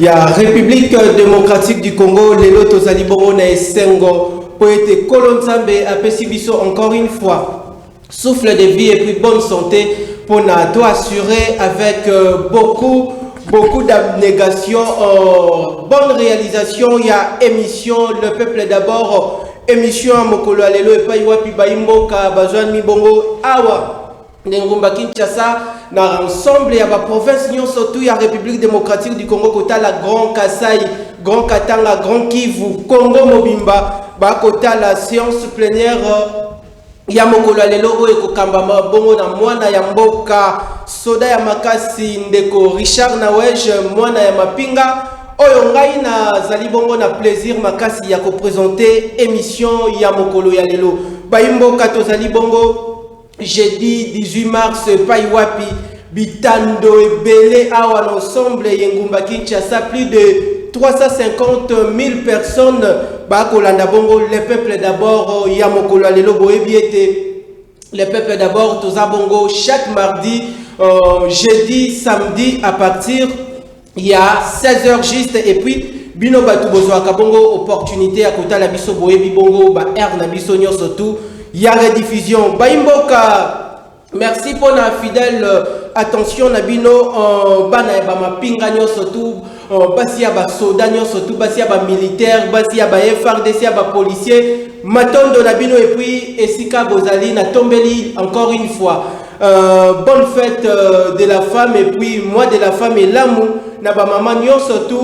ya Republique Democratique du Congo lelo tozali bongo na esengo mpo ete Nkolo Nzambe apesi biso encore une fois souffle de vie et puis bonne santé pour na to assurer avec euh, beaucoup beaucoup d'abnégation euh, bonne réalisation il y a émission le peuple d'abord émission à mokolo ya lelo epai wapi bayi mboka bazwami bongo awa na engumba Kinshasa na ensemble ya ba province nyonso tu ya République démocratique du Congo kotala Grand Kasai, Grand Katanga, Grand Kivu, Congo mobimba bakotala séance plénière ya mokolo ya lelo oyo ekokambama bongo na mwana ya mboka soda ya makasi ndeko richard nawege mwana ya mapinga oyo ngai nazali bongo na plaisir makasi ya kopresente émission ya mokolo ya lelo bayi mboka tozali bongo Jeudi 18 mars epai wapi bitando ebele awa na ensemble y'engumba Kinshasa plus de 350 000 personnes bakolanda bongo le peuple d'abord ya mokolo ya lelo boyebi ete le peuple d'abord toza bongo chaque mardi euh, jeudi samedi à partir ya 16 heures juste et puis bino bato bozwaka bongo opportunité ya kotala biso boyebi bongo ba heure na biso nyonso tout ya rediffusion bayimboka merci mpo na fidèle euh, attention na bino euh, bana ya bamapinga nyonso tout euh, basi ya basoda nyonso tout basi ya bamilitaire basi ya ba frdc ya bapolicier matondo na bino epuis esika bozali natombeli encore une fois Euh, bonne fête euh, de la femme et puis moi de la femme elamu na bamama nyonso tu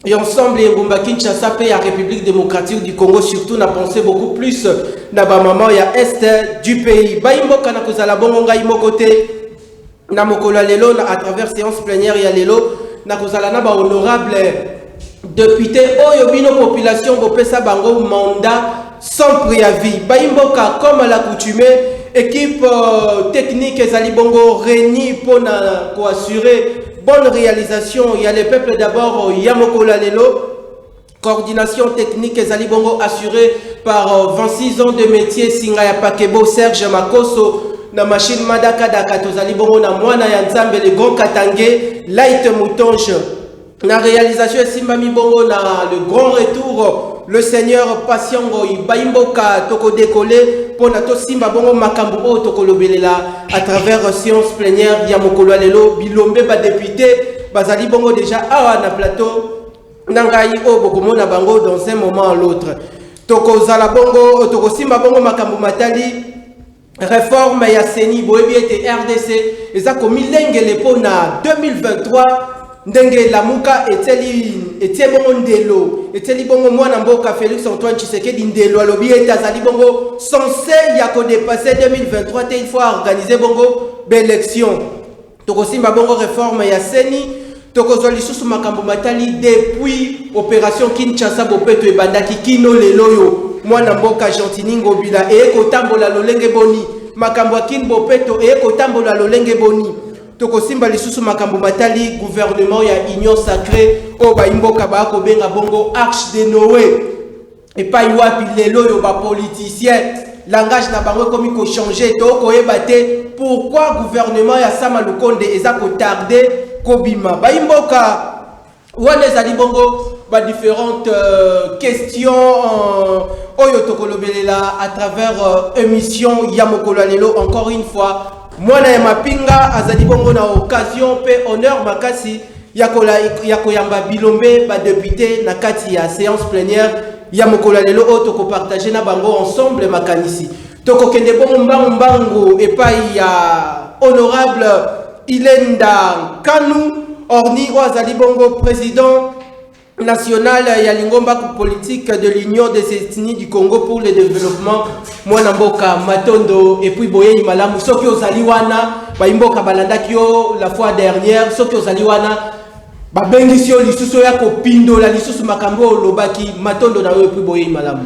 ya ensemble ya engumba kinshasa mpe ya république démocratique du congo surtout na pensé beaucoup plus na bamama ya est du pays bayi mboka na kozala bongo ngai moko te na mokolo ya lelo na à travers séance plénière ya lelo na kozala na bahonorable Depute oyo bino population bopesa bango mandat sans preavis bayi mboka comme à l'accoutumee équipe euh, technique ezali bongo reni mpo na koassure bonne réalisation ya le peuple d'abord ya mokolo ya lelo coordination technique ezali bongo assurée par 26 euh, ans de métier singa ya pakebo serge makoso na machine madakadaka tozali bongo na mwana ya nzambe le grand katange light moutonge Na realisation esimbami bongo na le grand retour le seigneur Patiengo Ibaimboka toko décoller mpo na tosimba bongo makambo oyo tokolobelela à travers science plénière ya mokolo ya lelo bilombe badepute bazali bongo déjà awa na plateau na ngai oyo bokomona bango dans un moment à l'autre tokozala bongo tokosimba bongo makambo matali Reforme ya CENI boyebi ete RDC eza komilengele mpo na 2023 ndenge lamuka etieli etie bongo ndelo etieli bongo mwana mboka Felix Antoine Tshisekedi ndelo alobi ete azali bongo sense ya kodepasse 2023 te il faut organiser bongo baelection Tokosimba bongo reforme ya ceni, tokozwa lisusu makambo matali depuis operation Kinshasa bopeto ebandaki kino lelo oyo mwana mboka Gentini Ngobila eye kotambola lolenge boni? Makambo ya kin bopeto eye kotambola lolenge boni? Tokosimba lisusu makambo matali gouvernement ya union sacree oyo bayi mboka baya kobenga bongo arche de Noe. Epai wapi lelo oyo ba politiciens langage na bango ekomi ko changer to koyeba te pourquoi gouvernement ya Sama Lukonde eza ko tarder kobima bayimboka wana ezali bongo ba différentes euh, questions euh, oyo tokolobelela à travers euh, émission ya mokolo ya lelo encore une fois mwana ya mapinga azali bongo na occasion mpe honneur makasi ya kola ya koyamba bilombe ba depute na kati ya séance plénière ya mokolo ya lelo oyo tokopartage na bango ensemble makanisi tokokende bongo mbangu mbangu epai ya honorable ilenda nkanu orni oyo azali bongo président national ya lingomba politique de l'union des ethnies du congo pour le développement mwana mboka matondo epuis boyeyi malamu soki ozali wana bayimboka balandaki yo la fois dernière soki ozali wana babengisi yo lisusu oya kopindola lisusu makambo oyo olobaki matondo na yo epuis boyeyi malamu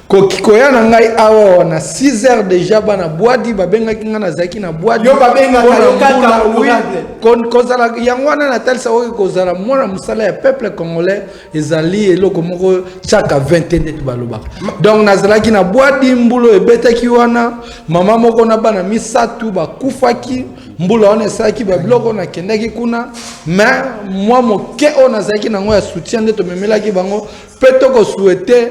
Koki koya na ngai awa wana 6 heures deja bana bwadi babengaki ngai nazalaki na bwadi Yo babengaka Mpo na yo kaka mbula, oui. honorable. Kon- kozala yango wana natalisa oyo kozala mwana mosala ya peuple congolais ezali eloko moko chaka 20 te ndeti balobaka donc nazalaki na bwadi mbula oyo ebetaki wana mama moko na bana misato bakufaki mbula wana esalaki babiloko nakendaki kuna me mwa moke oyo nazalaki nango ya soutien nde tomemelaki bango mpe tokosuete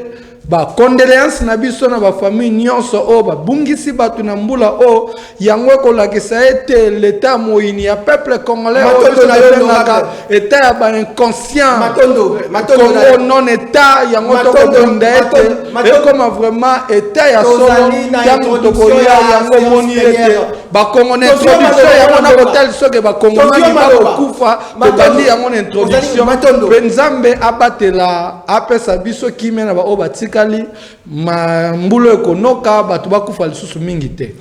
Ba condoleances na biso na ba famille nyonso oyo babungisi bato na mbula oyo. Yango ekolakisa ete l'etat ya moyini ya peuple congolais oyo biso tobengaka etat ya ba inconscient Congo non etat, yango tokobunda ete ekoma vraiment etat ya solo ntango tokoya yango moni ete bakongona introduction yango na kotali soki bakongomani bakokufa tobandi yango na introduction mpe nzambe abatela apesa biso kimia na baoyo batikali mbulo ekonoka bato bakufa lisusu mingi te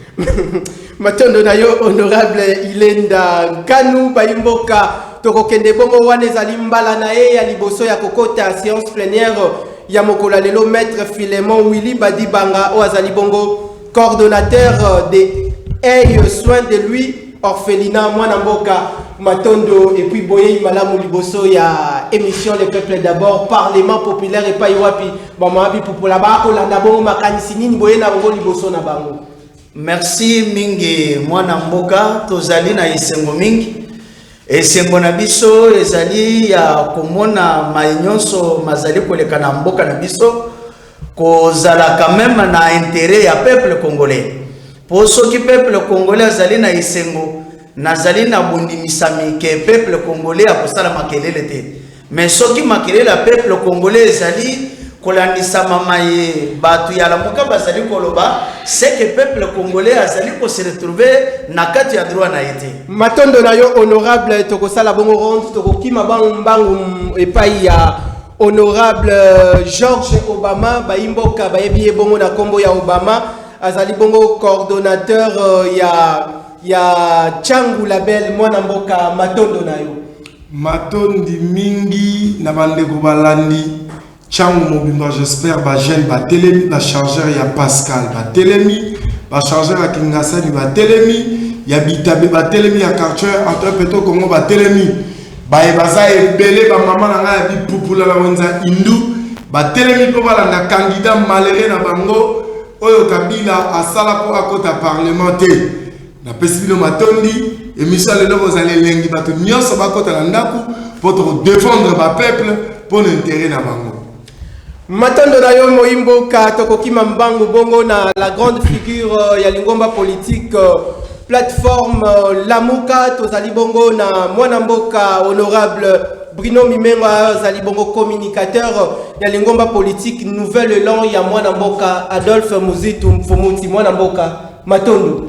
matondo na yo honorable ilenda nkanu bayimboka tokokende bongo wana ezali mbala na ye ya liboso ya kokota séance plenière ya mokolo ya lelo maître filemon willy badibanga oyo azali bongo coordonnateur de eye soin de lui orphelina mwana mboka matondo et puis boyei malamu liboso ya émission le peuple d'abord parlement populaire epai wapi bamama bipupola bakolanda bongo makanisi nini boye na yango liboso na bango merci mingi mwana mboka tozali na esengo mingi esengo na biso ezali ya komona mai nyonso mazali koleka na mboka na biso Kozala quand meme na interet ya peuple congolais po soki peuple congolais azali na esengo nazali na bondimisami ke peuple congolais akosala makelele te mais soki makelele ya peuple congolais ezali kolandisama maye bato ya lamuka bazali koloba seke peuple congolais azali kose retrouve na kati ya droit na ye te matondo na yo honorable tokosala bongo ronde tokokima bango mbangu epai ya Honorable euh, George Obama bayimboka bayebi ye bongo na kombo ya Obama azali bongo coordonnateur euh, ya ya Changu Label mwana mboka matondo na yo matondi mingi na bandeko balandi Changu mobimba j'espère ba jeune batelemi ba chargeur ya Pascal batelemi ba chargeur ya Kingasani batelemi ya Bitabe batelemi ya quartier entre Peto Congo batelemi Baye baza ebele ba maman na nga ya bipupula na wenza hindu batelemi mpo balanda candidat malere na bango oyo kabila asala mpo akota parlement te napesi bino matondi emission ya lelo bozali elengi bato nyonso bakota na ndako mpo toko defendre ba peuple mpo na intere na bango Matondo na yo moyi mboka tokokima mbangu bongo na la grande figure euh, ya lingomba politique euh, plateforme euh, Lamuka tozali bongo na mwana mboka honorable Bruno Mimengo azali bongo communicateur ya lingomba politique Nouvel Elan ya mwana mboka Adolphe Muzitu Mfumuti mwana mboka Matondo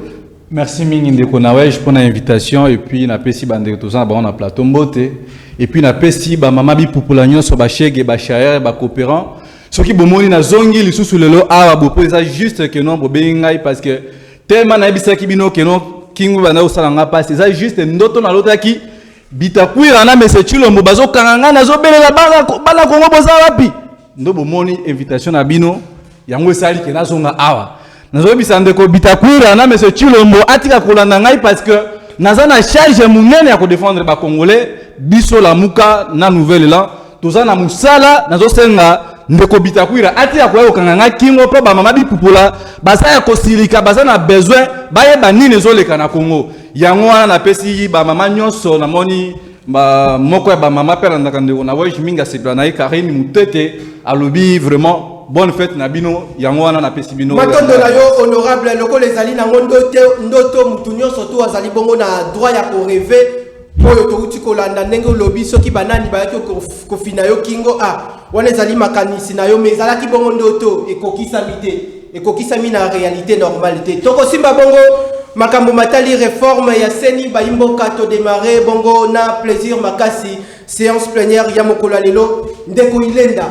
Merci mingi ndeko Nawej mpo na invitation et puis napesi bandeko toza na bango na plateau mbote et puis napesi bamama bipupula nyonso bashege bashaere bacoopérant soki bomoni nazongi lisusu lelo awa bopo eza juste que non bobengi ngai parce que tellement nayebisaki bino que non kingu banda kosala ngai mpasi eza juste ndoto nalotaki bitakwira na mese chilombo bazokanga ngai nazobelela bana kongo boza wapi Ndo bomoni invitation na bino yango esali ke nazonga awa nazoyebisa ndeko Bitakwira na monsieur Chilombo atika kolanda ngai parce que naza na charge monene ya kodefendre bacongolais biso lamuka na nouvelle elan toza na mosala nazosenga ndeko Bitakwira atika koya kokanga ngai kingo mpo bamama bipupola baza ya kosilika baza na besoin bayeba nini ezoleka na Congo yango wana napesi bamama nyonso namoni ba moko ya ba mama pe alandaka ndeko na wage mingi asepela na ye karine mutete alobi vraiment bonne fête na bino yango wana napesi bino matondo na yo honorable lokola ezali nango ndoto ndoto motu nyonso to azali bongo na droit ya koreve oyo touti kolanda ndenge olobi soki banani bayaki kofina yo kingo a ah, wana ezali makanisi na yo me ezalaki bongo ndoto ekokisami te ekokisami na realite normale te. Tokosimba bongo makambo matali reforme ya seni bayimboka to demarrer bongo na plaisir makasi séance plénière ya mokolo ya lelo ndeko Ilenda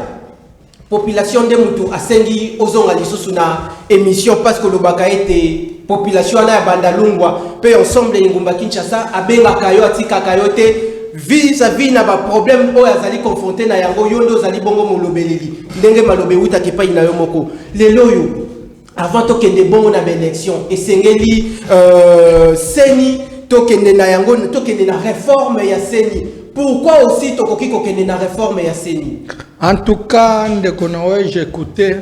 population nde mutu asengi ozonga lisusu na émission parce que lobaka ete population wana ya bandalungwa mpe ensemble ya engumba kinshasa abengaka yo atikaka yo te vis-à-vis na baproblème oyo azali confronte na yango yo nde ozali bongo molobeleli ndenge maloba ewutaka epai na yo moko Lelo oyo avant tokende bongo na baélection esengeli euh, seni tokende na yango tokende na réforme ya seni pourquoi aussi tokoki kokende na réforme ya seni en tout cas ndeko na oyo j'écoutais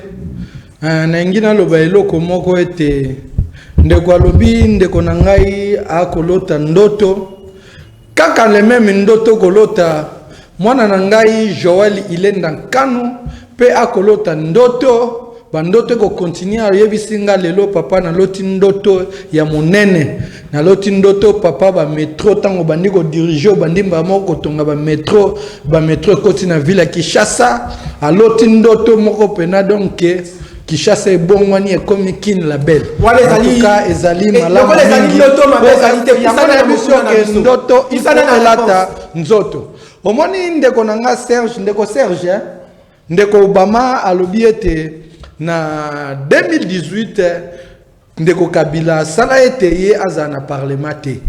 euh, nalingi naloba eloko moko ete ndeko alobi ndeko na ngai akolota ndoto Kaka le meme ndoto kolota mwana na ngai Joël Ilenda Nkanu pe akolota ndoto ba ndoto eko continuer oyebisi nga lelo papa na loti ndoto ya monene na loti ndoto papa ba metro tango bandi ko diriger obandi mbala moko kotonga ba metro ba metro ekoti na ville ya Kinshasa aloti ndoto moko pena donc Kishasa ebongwani ekomi kin la belle. Wala ezali ka ezali eh, malamu. Lokola ezali ndoto mabe ezali te kusana na biso ke ndoto isana na lata nzoto. Omoni ndeko na nga Serge, ndeko Serge, eh? ndeko Obama alobi ete na 2018 Ndeko kabila asala ete ye azala na parlement te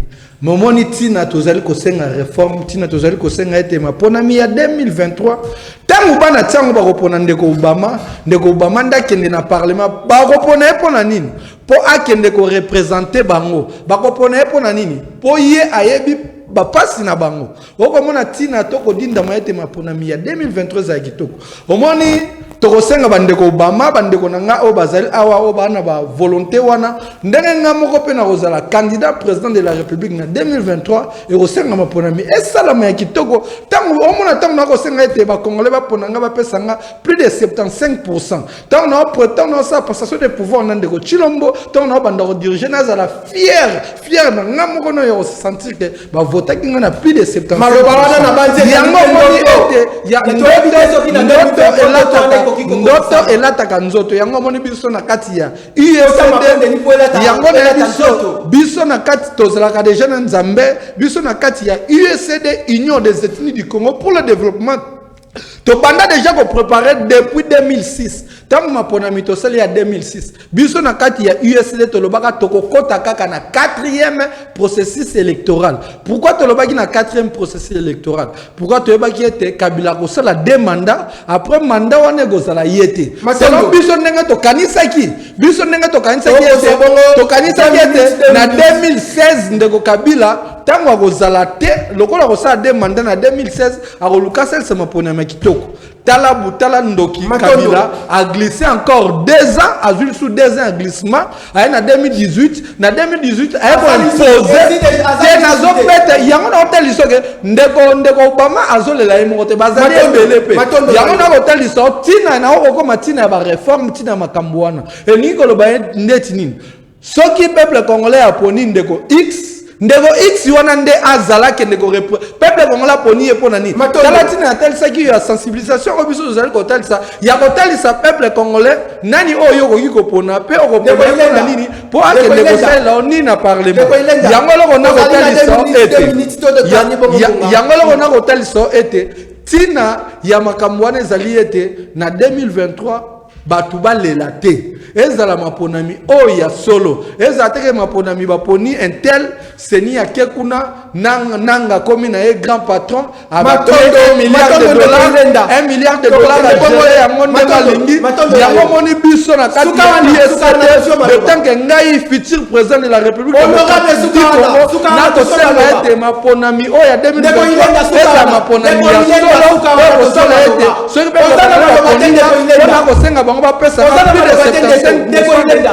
mais omoni ntina tozali kosenga reforme ntina tozali kosenga ete maponami ya 2023 ntango bana ntiango bakopona ndeko obama ndeko obama nde akende na parlement bakopona ye mpo na nini mpo akende korepresente bango bakopona ye mpo na nini mpo ye ayebi bapasi na bango okomona ntina to kodindama ete maponami ya 2023 ezala kitoko omoni tokosenga bandeko obama bandeko na ngai oyo bazali awa oyo baa na bavolonté wana ndenge ngai moko mpe nakozala candidat président de la république na 2023 ekosenga maponami esalama ya kitoko ntango omona ntango nakosenga ete bacongolais bapona ngai bapesa ngai plus de 75 Tant na tant na sa passation de pouvoir na ndeko Chilombo, tant na banda ko diriger na zala fier, fier na nga moko na yo sentir que ba vota ki na plus de 70. Maloba wana na banze ya ngo moni ete ya ndoto ki na ndoto elata ko ki ko ndoto elata ka nzoto ya ngo moni biso na kati ya USD ya ngo na biso biso na kati tozalaka déjà na Nzambe biso na kati ya USD Union des ethnies du Congo pour le développement tobanda deja koprepare depuis 2006 ntango maponami tosali ya 2006 biso na kati ya usd tolobaka tokokɔta kaka na 4e processus électoral pourkui tolobaki na 4e processus électoral pourkui toyebaki ete kabila akosala de mandat après mandat wana ekozala ye te selon biso ndenge tokanisaki biso ndenge tokanisaki ete tokanisaki ete na 2016 ndeko kabila ntango akozala te lokola akosala de mandat na 2016 akoluka asalisa maponami ya kitoko tala butala ndoki kabila aglisse encore deux ans azwi lisu deux ans ya glissement aye na 2018 na 2018 aye koimpose te nazobeta yango nakotalisa oke ndeko ndeko obama azolela ye moko te bazali ebele mpe yango nakotalisa ntina naokokoma ntina ya bareforme ntina ya makambo wana elingi koloba ye ndeti nini Soki peuple congolais aponi ndeko X, ndeko X wana nde azala kende ko peuple congolais aponi ye pona nini? Tala tina atalisaki yo ya sensibilisation oyo biso tozali kotalisa ya kotalisa peuple congolais nani oyo yo okoki kopona pe okopona ye pona nini po akende kosalela yo nini na parlement. Yango eloko na kotalisa ete yango eloko na kotalisa ete tina ya makambo wana ezali ete na 2023 bato balela te ezala maponami oyo ya solo ezala teke maponami baponi intel seni ake kuna nanga akomi na ye grand patron milliard de dollars yango nde balingi yango omoni biso na kati ya isate de tant que ngai futur président de la république nakosenga ete maponami oyo ya 2023 ezala maponami ya solo oyo kosala ete soki pe Oza na koloba te, ndeko Ilenda. pona kosenga bango bapesa Oza na koloba te, ndeko- ndeko Ilenda.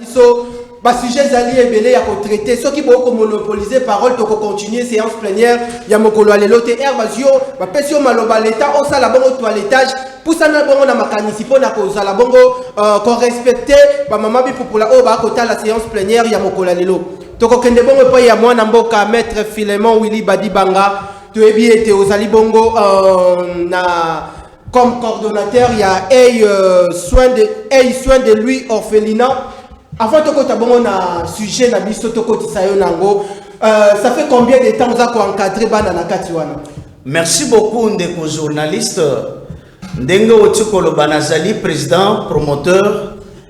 biso basujet ezali ebele ya kotraite soki bokomonopolise parole tokocontinue séance plénière ya mokolo ya lelo te ere bazwi yo bapesi yo maloba leta osala bongo toiletage pusana bongo na makanisi mpo na kozala bongo euh, korespecte bamama bipupula oyo bakotala séance plénière ya mokolo ya lelo Tokokende bongo epai ya mwana mboka Maître Philemon Willy Badibanga toyebi ete ozali bongo uh, na comme coordonnateur il y a Hey, euh, soin de, hey, soin de lui orphelinat. Avant tokota bongo na sujet na biso tokotisa yo nango. Euh, ça fait combien de temps oza koencadre bana na kati wana? Merci beaucoup ndeko journaliste. Ndenge oti koloba nazali président promoteur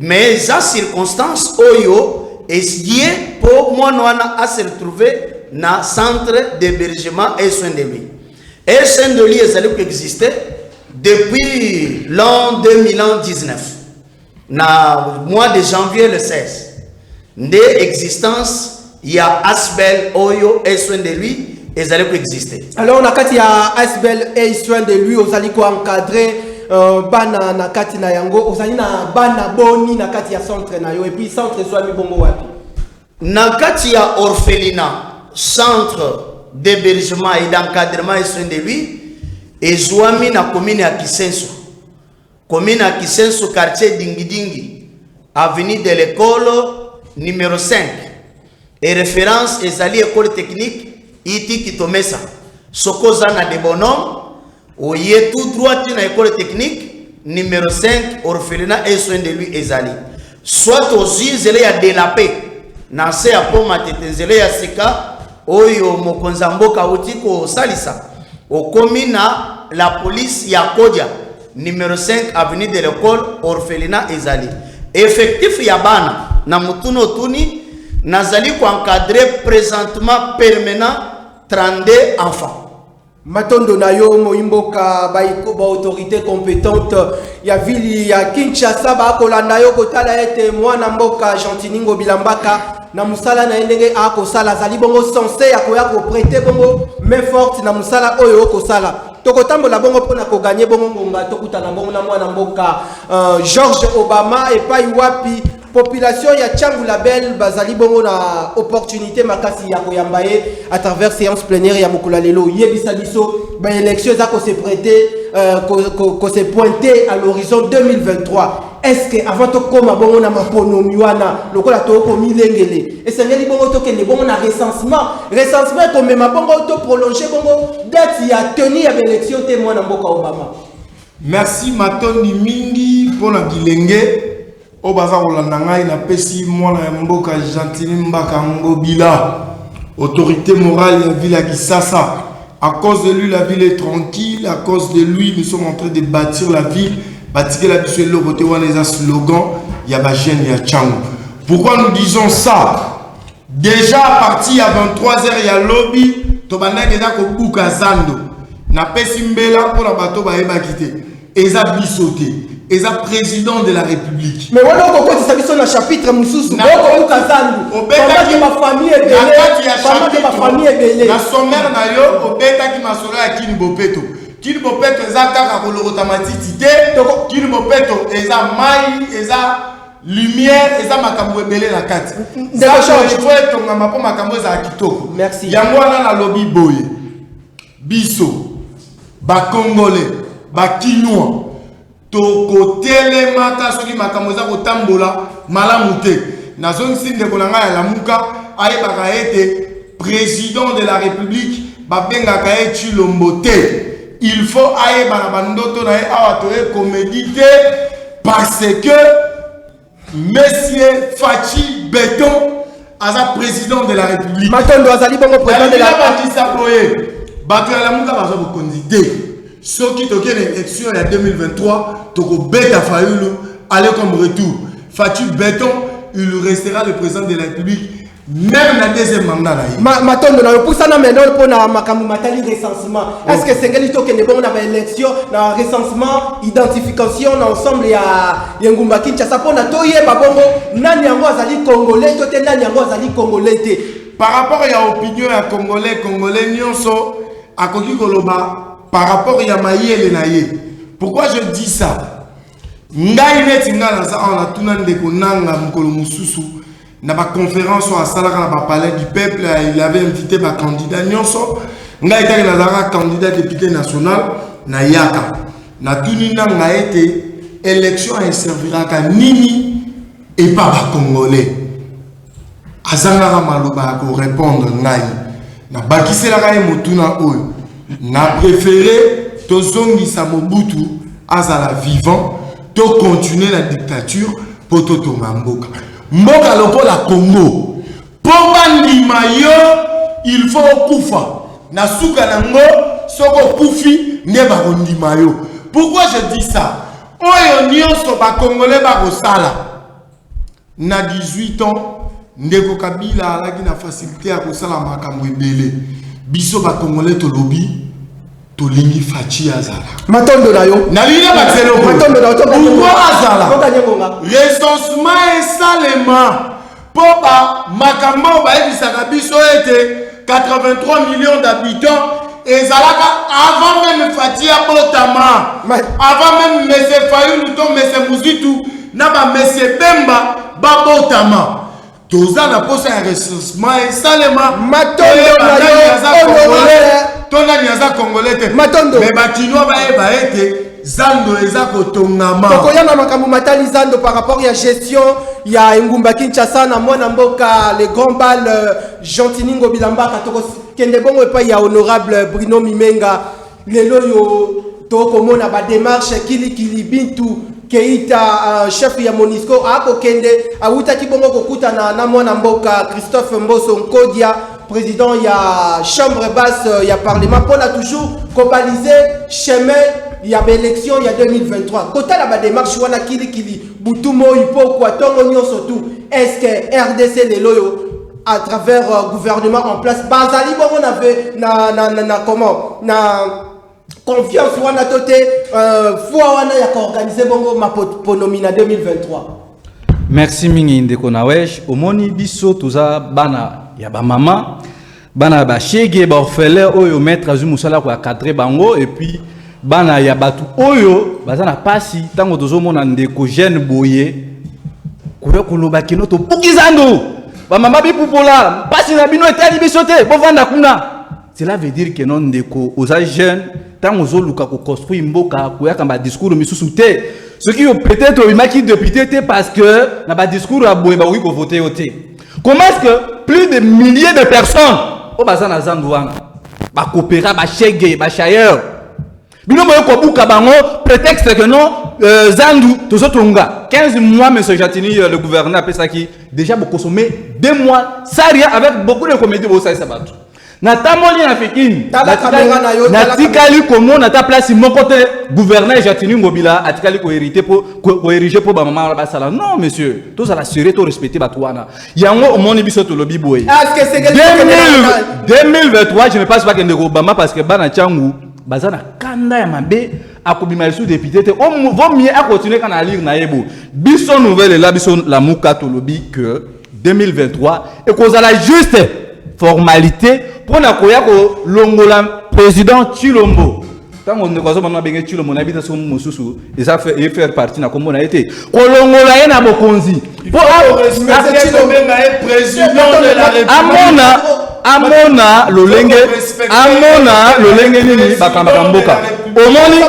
Mais eza circonstance oyo esie po mwana wana a se retrouver na centre d'hébergement et soins de lui. Et soins de lui ezali ko exister depuis l'an 2019 na mois de janvier le 16. Nde existence ya Asbel oyo est soin de lui ezali ko exister. Alors na kati ya Asbel est soin de lui ozali ko encadrer euh, bana na kati na yango ozali na bana boni na kati ya centre na yo et puis centre ezwami bongo wapi? Na kati ya orphelinat centre d'hébergement et d'encadrement et soin de lui ezwami na commune ya Kisenso. Commune ya Kisenso quartier Dingidingi avenue de l'Ecole numero 5 et reference ezali Ecole technique iti Kitomesa. Soko oza na de bonhomme oye tout droit na Ecole technique numero 5 orphelinat et soin de lui ezali. Soit ozwi nzela ya de la paix na nse ya mpo matete, nzela ya sika oyo mokonzi ya mboka auti kosalisa, okomi na la police ya Kodia numero 5 avenue de l'Ecole, orphelinat ezali effectif ya bana na motuna otuni nazali koencadre presentement permanent 32 enfants. Matondo na yo moyi mboka ba autorité compétente ya vili ya Kinshasa bakolanda yo kotala ete mwana mboka Gentiningo Bilambaka na musala na ye ndenge akosala azali bongo sense ya koya koprete bongo main forte na musala oyo okosala tokotambola bongo mpo na koganye bongo ngonga tokutana bongo na mwana mboka euh, George Obama epai wapi Population ya Tshangu Label bazali bongo na opportunité makasi ya koyamba ye à travers séance plénière ya mokolo lelo. Yebisa biso ba élection eza ko se prêter euh, ko, ko, ko se pointer à l'horizon 2023. Est-ce que avant to koma bongo na maponomi wana lokola to ko milengele esengeli bongo to kende bongo na recensement recensement ko mema bongo to prolonger bongo date ya tenue ya élection te mwana mboka Obama. Merci matondi mingi pona bilenge Oyo baza kolanda ngai na pesi mwana ya mboka Gentini Mbaka Ngobila autorite morale ya ville ya Kisasa à cause de lui la ville est tranquille à cause de lui nous sommes en train de bâtir la ville batikela biso eloko te wana eza slogan ya ba jeune ya Changu pourquoi nous disons ça Deja a partir ya 23 heures ya lobi tobandaki deja kobuka zando napesi mbela mpo na bato bayebaki te eza biso te eza président de la république mais wana okokotisa biso na chapitre mosusu okobuka zandu obetaki bafamille ebelekati ya chapitre bafamille ebele na sommaire na yo obetaki masolo ya kini bopeto kini bopeto eza kaka kolokota matiti te kini bopeto eza mai eza lumière eza makambo ebele na kati fo etongama mpo makambo ezala kitoko yango wana nalobi boye biso bacongolais bakinois tokotelemaka soki makambo eza kotambola malamu te nazongisi ndeko na ngai ya lamuka ayebaka ete President de la republique babengaka ye Tshilombo te. Il faut ayeba na bandoto na ye awa toye comedie te parce que Monsieur Fatshi Beton aza président de la république matondo azali bongo président de la bakisa boye bato ya lamuka baza bokonzi te soki toke na élection ya 2023 tokobeta fayulu aller comme retour faci beton il restera le président de la république Même na deuxième mandat na ye. Ma matondo na opusana maintenant mpo na makambo matali recensement. Oh. Est-ce que esengeli tokende bongo na ba élection na recensement identification na ensemble ya ya ngumba Kinshasa mpo na toyeba bongo nani yango azali congolais to te nani yango azali congolais te. Par rapport ya opinion ya congolais congolais nyonso akoki koloba par rapport ya mayele na ye. Pourquoi je dis ça? Ngai neti ngai naza awa natuna ndeko nanga mokolo mosusu na ba conference oyo asalaka na ba palais du peuple il avait invité ba candidat nyonso ngai etaki nazalaka candidat député national nayaka natuni nanga ete élection eserviraka nini epa bacongolais azangaka maloba ya korépondre ngai Nabakiselaka ye motuna oyo, na prefere tozongisa Mobutu azala vivant to continuer na dictature mpo totonga mboka. Mboka lokola Congo mpo bandima yo il faut okufa na suka na ngo soki okufi nde bakondima yo. Pourquoi je dis ça? Oyo nyonso bakongole bakosala Na 18 ans, ndeko Kabila alaki na facilite ya kosala makambo ebele. Biso ba Congolais tolobi tolingi Fatshi azala. Matondo na yo. Na lina ba zelo. Matondo na yo. Pourquoi azala? Recensement esalema po ba makambo bayebisaka biso ete 83 millions d'habitants ezalaka avant même Fatih abotama avant même Monsieur Fayulu to Monsieur Muzitu na ba Monsieur Bemba babotama toza na posa ya recensement esalema to nani aza congolais te mais bakinois bayeba ete zando eza kotongama tokoya na makambo matali zando par rapport ya gestion ya engumba kinshasa na mwana mboka le grand bal euh, Gentini Ngobila Mbaka toko kende bongo epai ya honorable Bruno Mimenga lelo yo tokomona ba démarche kili kili bintu Keita uh, chef ya Monisco akokende awutaki bongo kokutana na mwana mboka Christophe Mboso Nkodia président ya chambre basse ya parlement mpona toujours kobalize chemin ya baélection ya 2023 kotala badémarche wana kilikili Butu moyi pokua tongo nionso tout est ce que rdc lelo oyo à travers euh, gouvernement en place bazali bongo na ve na na na, na comment na confiance wana to te euh, foi wana ya koorganize bongo maponomi na 2023 merci mingi ndeko nawesh omoni biso toza bana ya bamama bana ya bashege baorphelin oyo maître azwi mosala ya cadre bango epuis bana ya bato oyo baza na mpasi ntango tozomona ndeko jeune boye koya koloba kino tobuki zando bamama bipupola mpasi na bino etali biso te bovanda kuna cela veut dire que non ndeko oza jeune ntango ozoluka koconstruire mboka koyaka na badiscours misusu te soki yo peut-être obimaki député te parce que na badiscours ya boye bakoki kovote yo te Comment est-ce que plus de milliers de personnes au bazan na zandu wana ba coopera ba shege ba chailleur bino boye kobuka bango prétexte que non euh, zandu tozo tonga 15 mois monsieur Jatini euh, le gouverneur qui déjà bo consommer 2 mois ça rien avec beaucoup de comédie bo ça ça bato natamboli na pikini natikali komona ata place moko te gouverneur jatini ngobila atikali koherite po koerige mpo bamama wana basala non monsieur tozala sérieux to respecte bato wana yango omoni biso tolobi boye 2023 je ne pense pas kende kobama parce que bana ntango baza na kanda ya mabe akobima lisusu depute te vaut mieux akontinue kaka na alire na ye bo biso nouvelle ela biso lamuka tolobi que 2023 ekozala juste formalite mpo na koya kolongola président tshilombo ntango ndeko azomama abenge tshilombo nayebi te soki mosusu eza ye faire partie na nkombo na ye te kolongola ye na bokonzi mpo amona amona lolenge amona lolenge nini bakambaka mboka omoni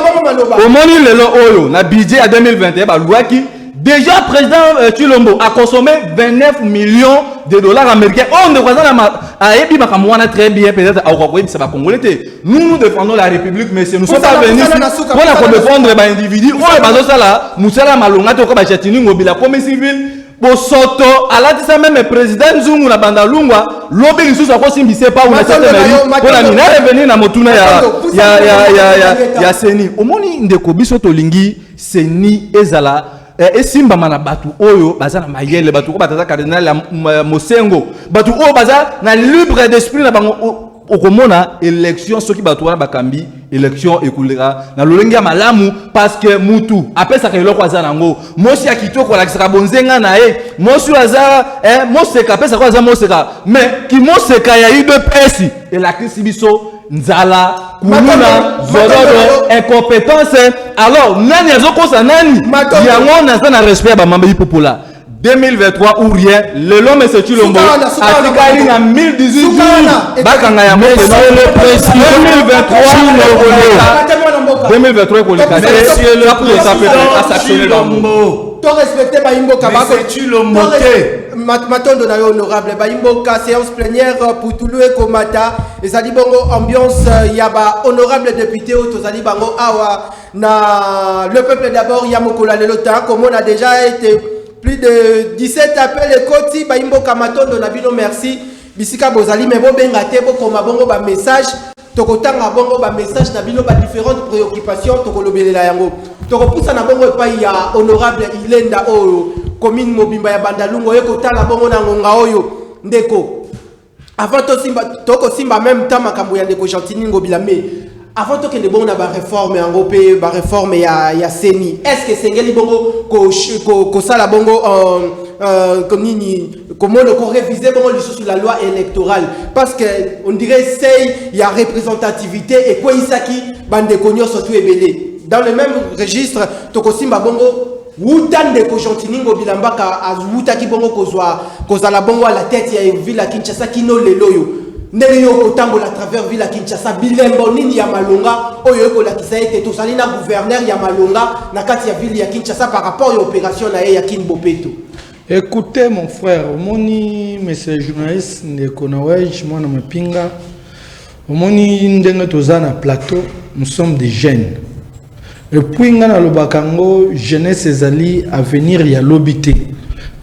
omoni lelo oyo na budget ya 2021 balwaki Déjà président euh, Chilombo a consommé 29 millions de dollars américains. Oh, ne voisin a ébi makamwana très bien peut-être à Okwakwe ça va congolais. Nous nous défendons la République mais nous sommes pas venus pour la pour défendre ba individu. Oh, ba ça là, musala malonga to ko ba chatini ngobila comme civil. Bosoto alatisa même président Zungu na banda lungwa lobi lisusu akosimbise pa una tata na yo pona nini revenir na motuna ya ya ya ya ya seni omoni ndeko biso tolingi ceni ezala eh, esimbama na bato oyo baza na mayele bato oyo bataza cardinal ya mosengo bato oyo baza na libre d'esprit na bango okomona election soki bato wana bakambi election ekoleka na lolenge ya malamu parceke mutu apesaka eloko aza nango mosi ya kitoko alakisaka bonzenga na ye mosi oyo aza eh, moseka apesaka oyo aza moseka me kimoseka ya udps elakisi biso nzala kuluna zododo incompétence alors nani azokosa nani yango naza na respect ya bamama bipopola 2023 ou rien lelo mese cilombo atikali na 1018 jours bakanga yango pena 2023 ekoleka te asanctionne bango to respecte bayimboka bako cilombo te matondo na yo honorable bayimboka séance plénière euh, putulu ekomata ezali bongo ambiance euh, ya ba honorable député oyo tozali bango awa na le peuple d'abord ya mokolo ya lelo ta komona déjà ete plus de 17 appel ekoti bayimboka matondo na bino merci bisika bozali me bobenga te bokoma bongo bamessage Tokotanga bongo ba message na bino ba differentes préoccupations tokolobelela yango. Tokopusana bongo epai ya honorable Ilenda oyo commune mobimba ya Bandalungu oye kotala bongo na ngonga oyo ndeko avant tosimba tokosimba même temps makambo ya ndeko Gentini Ngobila mais avant tokende bongo na bareforme yango mpe bareforme ya, ya seni est ce que esengeli bongo kosala ko, ko bongo uh, uh, nini Komona ko reviser bongo lisusu la loi électorale parce que on dirait seuil ya représentativité ekweisaki bandeko nyonso tu ebele dans le même registre tokosimba bongo wuta ndeko Gentiningo Bilambaka awutaki bongo kozwa kozala bongo à la tête ya ville ya Kinshasa kino lelo oyo ndenge yo okotambola travers ville ya Kinshasa bilembo nini ya malonga oyo ekolakisa ete tozali na gouverneur ya malonga na kati ya ville ya Kinshasa par rapport ya opération na ye ya Kin Bopeto Ecoute mon frère, omoni monsieur journaliste ndeko Noël mwana mapinga, omoni ndenge toza na plateau, nous sommes des jeunes. Et puis nga nalobaka ngo jeunesse ezali avenir ya lobi te.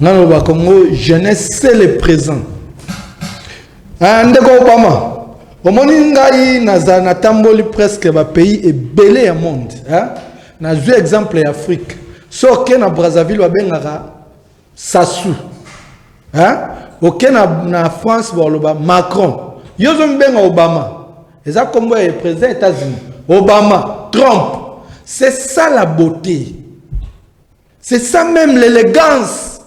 Nga nalobaka ngo jeunesse c'est le présent. Ah ndeko Obama, omoni ngai naza natamboli presque ba pays ebele ya monde, hein? Na zui exemple ya Afrique. So oke na Brazzaville babengaka Sassou. Hein? Oke na, na France baloba Macron. Yo zo mbenga Obama. Eza kombo ya président États-Unis. Obama, Trump. C'est ça la beauté. C'est ça même l'élégance.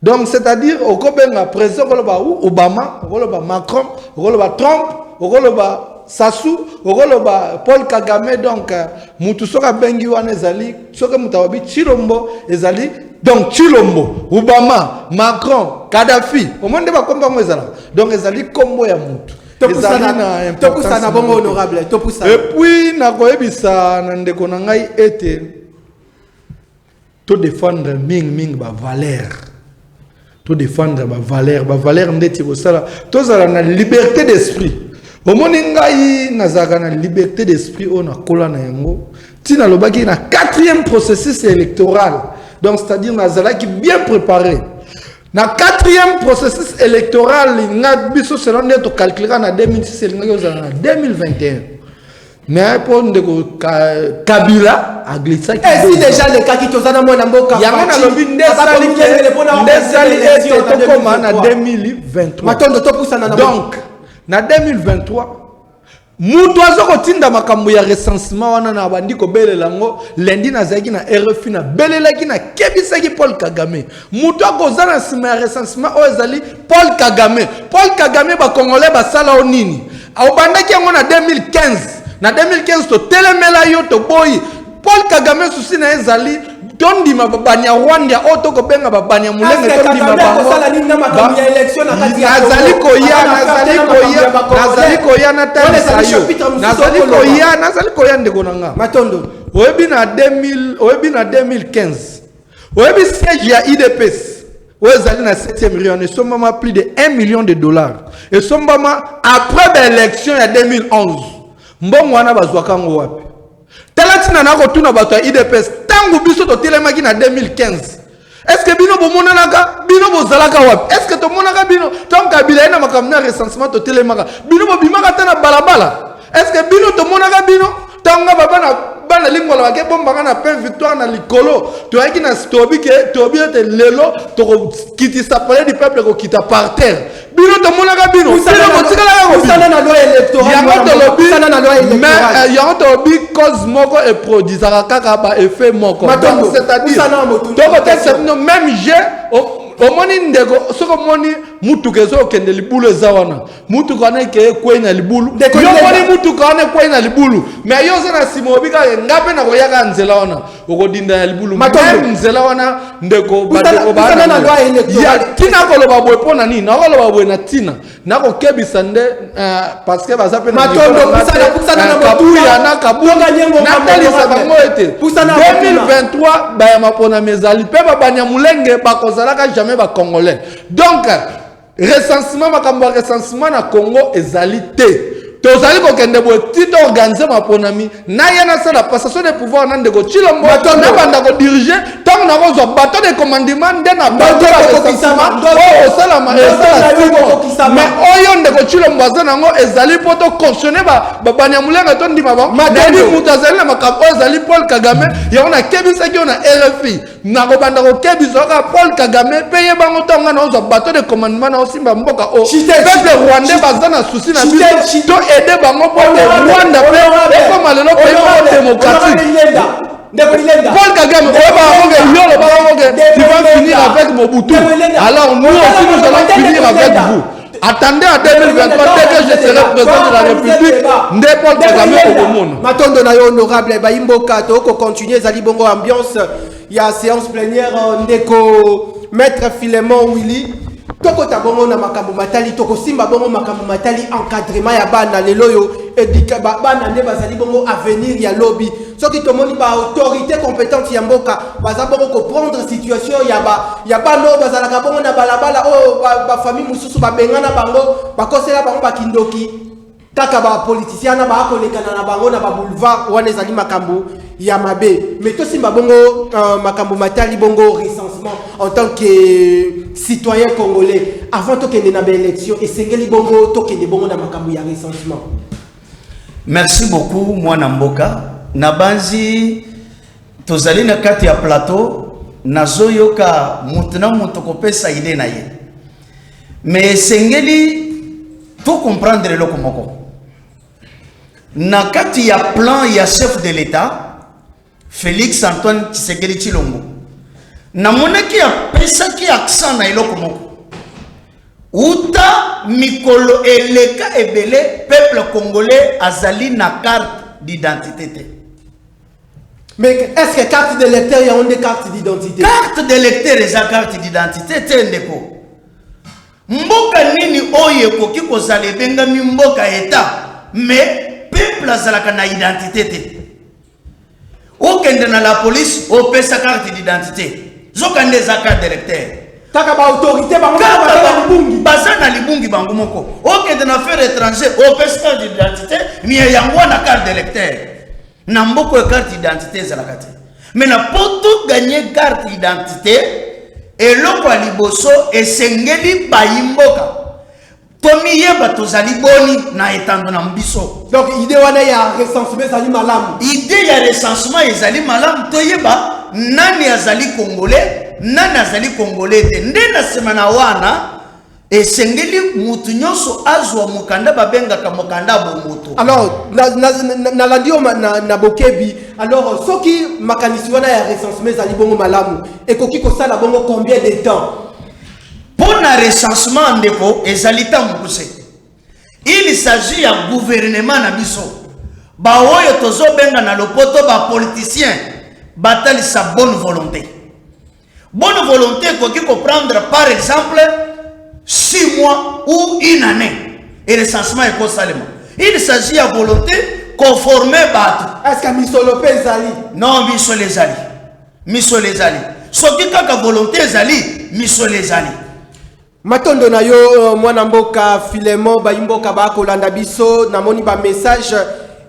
Donc c'est-à-dire okobenga président okoloba Obama, okoloba Macron, okoloba Trump, okoloba Sassou, okoloba Paul Kagame donc euh, mutu soka bengi wana ezali soka mutu awabi Chilombo ezali donc Chilombo, Obama, Macron, Kadhafi, omoni nde bakombo yango ezala. Donc ezali kombo ya mutu. topusana bongo honorable topusana epuis nakoyebisa na ndeko na ngai ete To defendre mingi mingi ba valeur. To defendre ba valeur, ba valeur ndeti kosala tozala na liberté d'esprit. Omoni ngai nazalaka na liberté d'esprit oyo nakola na yango ntina alobaki na quatrième processus électoral donc c'est-à-dire nazalaki bien préparé na quatrième processus électoral nga biso selon nde tocalculaka na 2006 elingaki ozala na 2021 mais mpo ndeko kabila aglisaki esi deja alekaki toza na mwana mboka yango nalobi ndesaliele ete tokoma na 2023 matondo topusana na donc na 2023 moto aza kotinda makambo ya recensement wana na bandi kobelela yango lendi nazalaki na rfi nabelelaki nakebisaki paul kagame moto akoza na nsima ya recensement oyo ezali paul kagame paul kagame bacongolais basala o nini obandaki yango na 2015 na 2015 totelemela yo toboyi paul kagame susi na ye ezali tondima babani ya rwanda oyo tokobenga babani ya molenge tondima bangozali koya nazali koya nazali koya natalisa yo nazali koya nazali koya ndeko na nga matondo oyebi na 2000 oyebi na 2015 Oyebi siège ya IDPS oyo ezali na 7e rue wana esombama plus de 1 million de dollars. Esombama après ba élection ya 2011. Mbongo wana bazwaka yango wapi? Tala ntina na kotuna bato ya IDPS ntango biso totelemaki na 2015 est-ce que bino bomonanaka bino bozalaka wapi est-ce que tomonaka bino ntango kabila ye na makambo na recensement totelemaka bino bobimaka ata na balabala Est-ce que bino tomonaka bino ntango nga baba na bana likola bakebombaka na pain victoire na likolo toyaki na tobi ke tobi ete lelo tokokitisa palais du peuple kokita par terre bino tomonaka bino yango tolobi cause moko eproduisaka kaka baeffet moko c'est-à-dire tokotekisa bino même je omoni ndeko soki omoni motuka ezokende libulu eza wana mutuka wana eke ekwei na libulu yomoni mutuka wana ekwei na libulu me yo oza na nsima obi kaka nga mpe nakoyaka nzela wana okodinda na libulu meme nzela wana ndeko bandeko baaya tina koloba boye mpo na nini nakoloba boye na ntina nakokebisa nde eh, parceke baza mpe natalisa bango ete 2023 bayama mponami ezali mpe babanyamulenge bakozalaka jamais bacongolais donc Recensement, makambo ya recensement na Congo ezali te. tozali kokende boye ti to organise maponami na ye nasala passation de pouvoir na ndeko cilombo nabanda kodirige ntango nakozwa bato de commandement nde na oyo osalama mais oyo ndeko cilombo aza nango ezali mpo to cautionne banyamulenga tondima bango nani moto azali na makambo oyo ezali paul kagame yango nakebisaki yo na rfi nakobanda kokebisa kaka paul kagame mpe ye bango ntango ngai naozwa bato de commandement naosimba mboka o peuple rwandais baza na susi na biso to aide bango mpo te rwanda mpe ekoma lelo mpe moko démocratique Paul Kagame, il va finir avec Mobutu. Alors nous aussi, nous allons finir avec vous. Attendez à 2023 dès que je serai président de la République, nde Paul Kagame okomona. Matondo na yo honorable bayi mboka to ko continuer ezali bongo ambiance ya séance plénière euh, ndeko maître Philemon Willy tokota bongo na makambo matali tokosimba bongo makambo matali encadrement ya bana lelo oyo bana nde bazali bongo avenir ya lobi soki tomoni ba autorité compétente ya mboka baza bongo koprendre situation ya ba ya bana oyo bazalaka bongo na balabala oyo bafamille ba mosusu babengana bango bakosela bango bakindoki kaka bapolitisien na baya kolekana na bango na baboulevard wana ezali makambo ya mabe mais tosimba bongo uh, makambo matali bongo recensement en tant que euh, citoyen congolais avant tokende na baélection esengeli bongo tokende bongo na makambo ya recensement Merci beaucoup mwana mboka nabanzi tozali na kati ya plateau nazoyoka moto na moto kopesa ide na ye me esengeli to comprendre eloko moko na kati ya plan ya chef de l'etat Felix Antoine Tshisekedi Tshilombo namonaki apesaki accent na eloko moko uta mikolo eleka ebele peuple congolais azali na carte d'identité te mais est-ce que carte de lecteur yango nde carte d'identité carte de lecteur eza carte d'identité te ndeko mboka nini oyo ekoki kozala ebengami mboka etat mais peuple azalaka na identité te Okende na la police opesa carte d'identité. Zoka nde eza carte d'électeur. Kaka ba autorité bango baza na libungi. Baza na libungi bango moko. Okende na faire étranger opesa carte d'identité, mais yango na carte d'électeur. Na mboko carte d'identité ezalaka te. Mais na poto gagner carte d'identité eloko ya liboso esengeli bayi mboka tomiyeba tozali boni na etando na biso donc idée wana ya recensement ezali malamu idée ya recensement ezali malamu toyeba nani azali congolais nani azali congolais te nde na nsima na wana esengeli motu nyonso azwa mokanda babengaka mokanda bomoto alors nalandi yo na bokebi alors soki makanisi wana ya recensement ezali bongo malamu ekoki kosala bongo combien de temps Mpo na recensement ndeko ezali tango mokuse. Il s'agit ya gouvernement na biso. Ba oyo tozo benga na lopoto ba politiciens batalisa bonne volonte. Bonne volonte ekoki ko prendre par exemple 6 mois ou une année et recensement ekosalema. Il s'agit ya volonte ko former bato. Est-ce que misolo mpe ezali? Non, misolo ezali. Misolo ezali. Soki kaka volonté ezali, misolo ezali. Matondo na yo euh, mwana mboka Filemon bayimboka bakolanda biso namoni ba message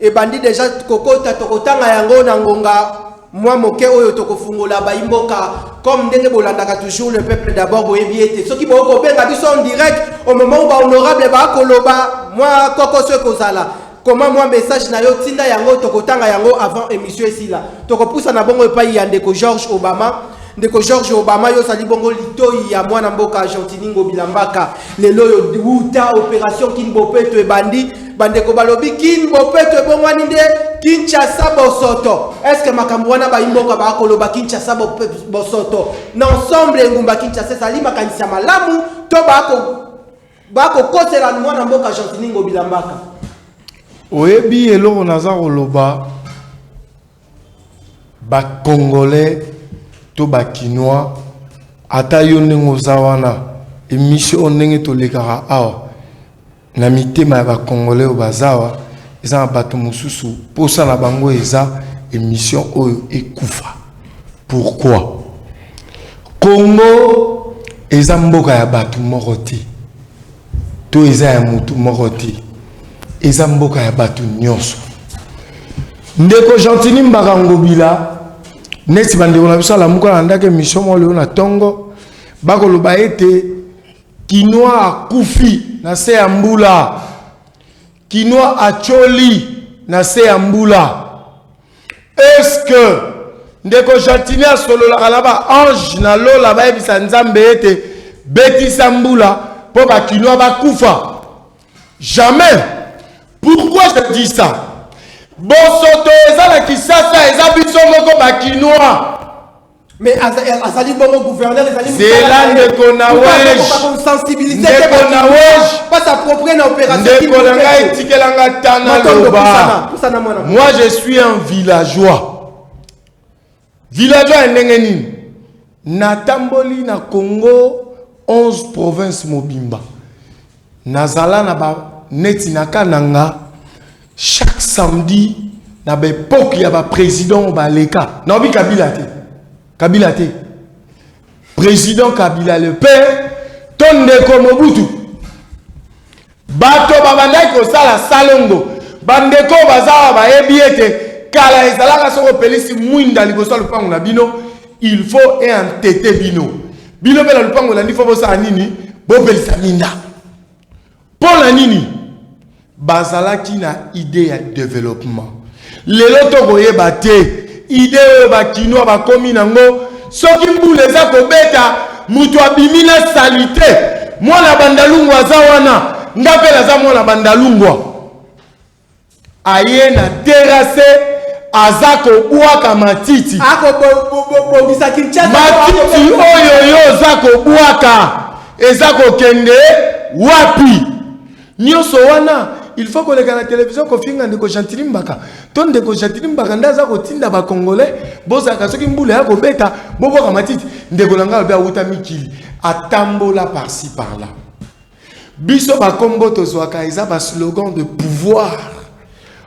ebandi deja kokota tokotanga yango na ngonga mwa moke oyo tokofungola bayimboka comme ndenge bolandaka toujours le peuple d'abord boyebi ete soki bokoki kobenga biso en direct au moment où bahonorable bakoloba mwa kokoso ekozala Koma mwa message na yo tinda yango tokotanga yango avant emission esila. Tokopusana bongo epai ya ndeko George Obama. Ndeko George Obama yo ozali bongo litoi ya mwana mboka Argentini Ngobila Mbaka. Lelo oyo wuta operation Kin Bopeto ebandi. Bandeko balobi Kin Bopeto ebongwani nde Kinshasa Bosoto. Est-ce que makambo wana bayi mboka bakoloba Kinshasa Bo- Bosoto? Na ensemble engumba Kinshasa ezali makanisi ya malamu to bako bakokotela mwana mboka gentini ngobila mbaka oyebi eloko naza koloba bacongolais to bakinois ata yo ndenge oza wana emission oyo ndenge tolekaka awa na mitema ya bacongolais oyo baza awa eza na bato mosusu mposa na bango eza emission oyo ekufa Pourquoi? Congo eza mboka ya batu moko te to eza ya mutu moko te eza mboka ya batu nionso ndeko gentini mbaka ngobila neti bandeko na biso alamuka na ndako emission moko lelo na ntongo bakoloba ete kinois akufi na se ya mbula kinois acoli na se ya mbula Est-ce que ndeko Gentini asololaka na ba ange na lola bayebisa Nzambe ete betisa mbula mpo ba kinois bakufa? Jamais. Pourquoi je dis ça? Bosoto eza na Kisasa eza biso moko ba kinois. Mais azali bongo gouverneur ezali zela ndeko na wejdeko na wejndeko na ngai etikelanga ta naloba moi je suis un villageois villageois ya ndenge nini natamboli na congo 11 province mobimba Nazala na ba neti na kananga chaque samedi na ba epoque ya ba president oyo baleka naobi kabila te kabila te president kabila le père to ndeko mobutu bato babandaki kosala salongo bandeko bazawa bayebi ete kala ezalaka soki opelisi mwinda liboso ya lopango na bino Il faut e entete bino. Bino pe na lupango elandi fo bosala nini? Bopelisa minda. Mpo na nini? Bazalaki na idee ya development. Lelo tokoyeba te idee oyo bakinois bakomi nango soki mbula eza kobeta moto abimi na salite mwana bandalungwa aza wana nga mpe naza mwana bandalungwa aye na terrasse aza kobwaka matiti akobongisa kinshasa matiti oyo yo oza kobwaka eza kokende wapi nyonso wana il faut koleka na televizio kofinga ndeko gentili mbaka to ndeko gentili mbaka nde aza kotinda bacongolais bozalaka soki mbula ya kobeta bobwaka matiti ndeko na ngai obe awuta mikili atambola parci par là Biso ba kombo tozwaka eza ba slogan de pouvoir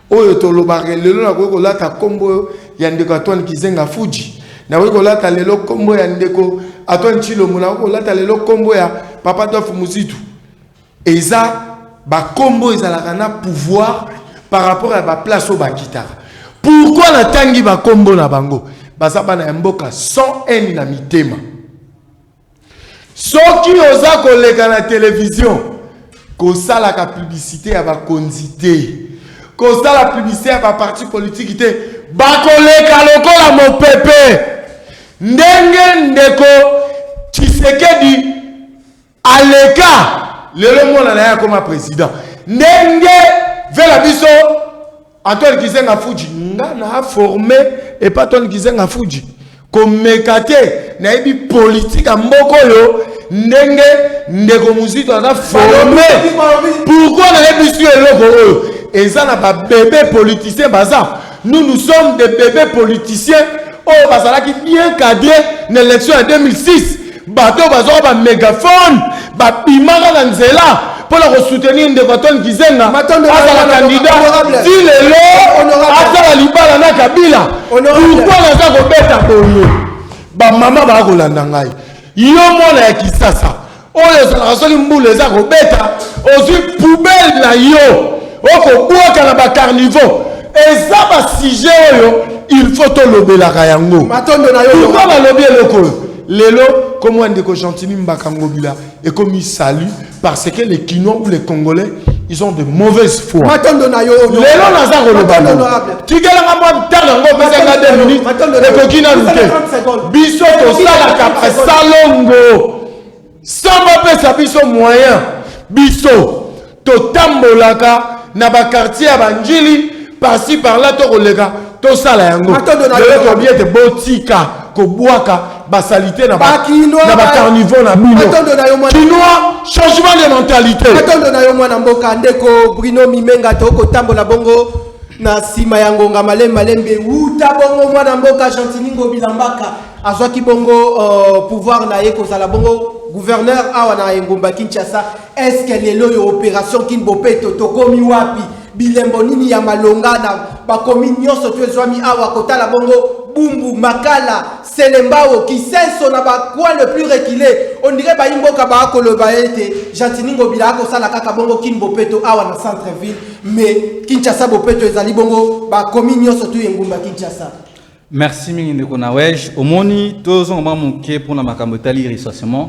oyo tolobaka lelo na koki kolata kombo ya ndeko Antoine Kizenga Fuji na koki kolata lelo kombo ya ndeko Antoine Chilombo na koki kolata lelo kombo ya Papa Dof Muzitu eza ba kombo ezalaka na pouvoir par rapport à ba place au bakitaka pourquoi la tangi ba kombo na bango baza bana ya mboka sans haine na mitema Soki oza koleka na television kosalaka publicite ya bakonzi te, kosala publicite ya ba parti politique te, bakoleka lokola mopepe. Ndenge ndeko Tshisekedi aleka lelo mwana na ye akoma president, ndenge vela biso Antoine Kizenga Fuji nga na forme epa Antoine Kizenga Fuji komeka te nayebi politike ya mboka oyo ndenge ndeko muzito aza forme pourkoi nayebisi yo eloko oyo eza na babebe politicien baza nous nous sommes des bebe politicien oyo bazalaki bien cadre na élection ya 2006 bato oyo bazwaka bamegafone babimaka na nzela mpo na kosoutenir ndeko atone kizenga azala kandida ti lelo asala libala na kabila pourkoi naza kobeta boye bamama baya kolanda ngai yo mwana ya kisasa oyo ezalaka soki mbula eza kobeta ozwi poubele na yo okobwaka na bacarnivaux eza basujet oyo il faut tolobelaka yango pourkoi balobi eloko oyo Lelo kombo ya ndeko Gentini Mbaka Ngobila ekomi salut parce que les Kinois ou les Congolais ils ont de mauvaises foi. Matondo na yo. Lelo naza koloba. Tikela nga mwa ntanga ngo pesa nga 2 minutes. Ekoki na lute. Biso tosalaka basalongo. sans bapesa biso moyen biso totambolaka na bakartier ya banjili parci parla to koleka tosala yango lelo tobi ete botika kobwaka basalite na bacarnivore na bino kinois changement de mentalité matondo na yo mwana mboka ndeko brino mimenga tokotambola bongo na nsima ya ngonga malembe malembe wuta bongo mwana mboka gentini ngobilambaka azwaki bongo uh, pouvoir na ye kozala bongo gouverneur awa na engumba kinshasa eske lelo oyo opération kin bopeto tokomi wapi bilembo nini ya malonga na bakomi nyonso to ezwami awa kotala bongo bumbu makala selembao kisenso na bacoin le plus reculé ondire bayi mboka baa koloba ete gentini ngobila akosala kaka bongo kin bopeto awa na centre ville mais kinshasa bopeto ezali bongo bakomi nyonso tu engumba kinshasa Merci mingi ndeko na wej omoni tozonga mwa moke mpona makambo etali recensement